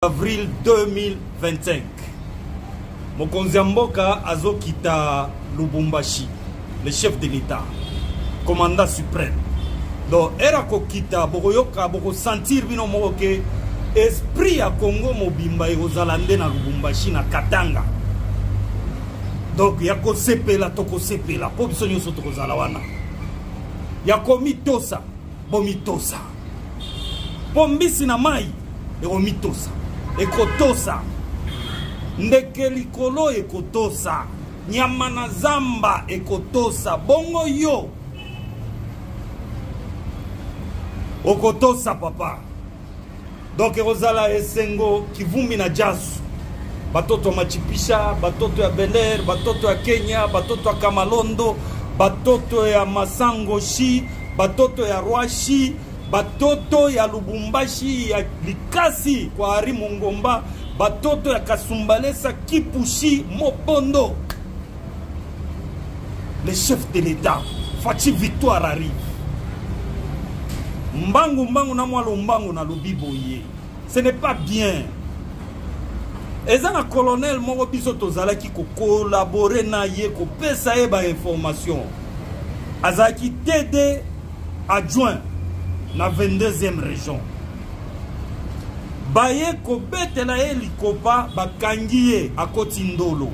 avril 2025 mokonzi ya mboka azokita lubumbashi le chef de l'état commandant suprême donc ere akokita bokoyoka bokosentir bino moko ke esprit ya congo mobimba ekozala nde na lubumbashi na katanga donc ya kosepela tokosepela mpo biso nyonso tokozala wana ya komitosa bomitosa mpo mbisi na mai ekomitosa ekotosa ndeke likolo ekotosa nyama na zamba ekotosa bongo yo okotosa papa donc ekozala esengo kivumbi na jasu batoto ya machipisha batoto ya beler batoto ya kenya batoto ya kamalondo batoto ya masango shi batoto ya roi shi batoto ya lubumbashi ya likasi kwa ari mongomba batoto ya kasumbalesa kipushi mobondo le chef de l'État, Fatih Victoire arrive. Mbangu mbangu na mwa lombangu na lobi boye. Ce n'est pas bien. eza na colonel moko biso tozalaki kokolabore na ye kopesa ye bainformation azalaki td adjoint na 22e région baye kobetela ye likopa bakangi ye akoti ndolo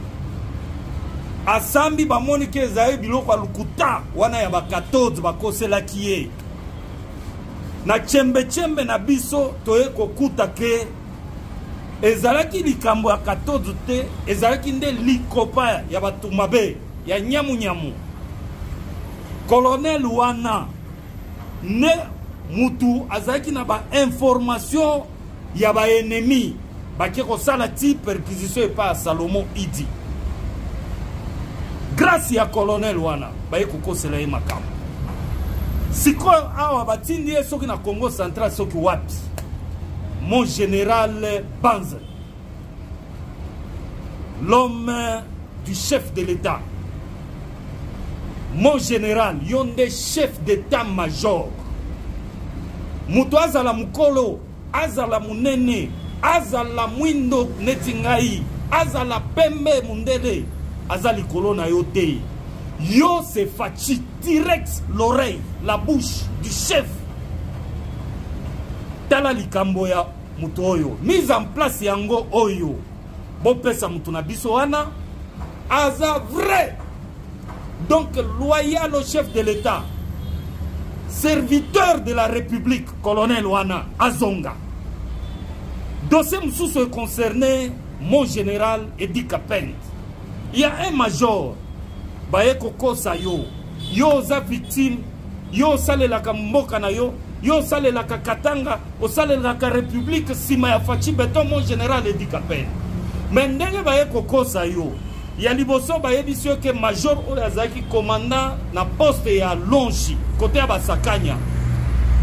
asambi bamoni ke ezali biloko ya lokuta wana ya ba 14 bakoselaki ye na chembechembe na biso toye kokuta ke ezalaki likambo ya 14 te ezalaki nde likopa ya bato mabe ya nyamunyamu kolonele wana nde mutu azalaki na bainformation ya ba ennemis bake kosala ti perquisition epai ya salomo idi grâce ya colonel wana baye kokosela ye makambo sikoyo awa batindi ye soki na congo central soki wapi mon général banze l'homme du chef de l'État. Mon général, yon des chefs d'état-major. Mutu azala mukolo, azala munene, azala mwindo neti ngai, azala pembe mundele, azali kolo na yo te. Yo c'est Fatshi, direct l'oreille, la bouche du chef. Tala likambo ya moto oyo mise en place yango oyo bopesa moto na biso wana aza vrai donc loyal au chef de l'état serviteur de la république colonel wana azonga dossier mosusu econcerne mon général edi kapend ya un major baye kokosa yo yo oza victime yo osalelaka mboka na yo yo osalelaka katanga osalelaka republike nsima ya faci beton mon général edi kapele me ndenge baye kokosa yo ya liboso bayebisi yo ke major oyo azalaki commandant na poste ya longi kote ya basakanya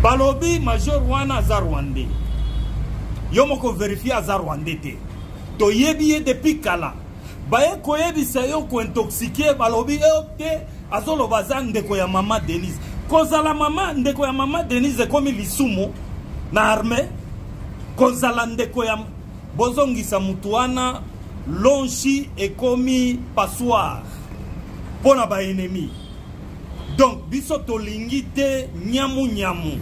balobi major wana aza rwandais yo moko verifie aza rwandais te toyebi ye depuis kala baye koyebisa yo kointoxikie balobi yo te azoloba aza ndeko ya mama denise kozala mama ndeko ya mama denise ekomi lisumu na arme kozala ndeko ya bozongisa motu wana lonshi ekomi passoire mpo na baennemi donc biso tolingi te nyamu nyamu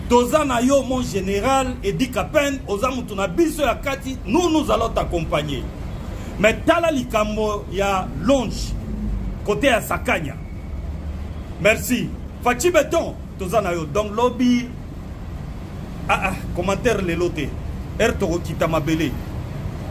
toza na yo mon général edi capen oza moto na biso ya kati nous nous allons t'accompagner mais tala likambo ya longe kote ya sakanya merci faci beton toza na yo donc lobi ah, ah, commentaire lelo te ere tokokita mabele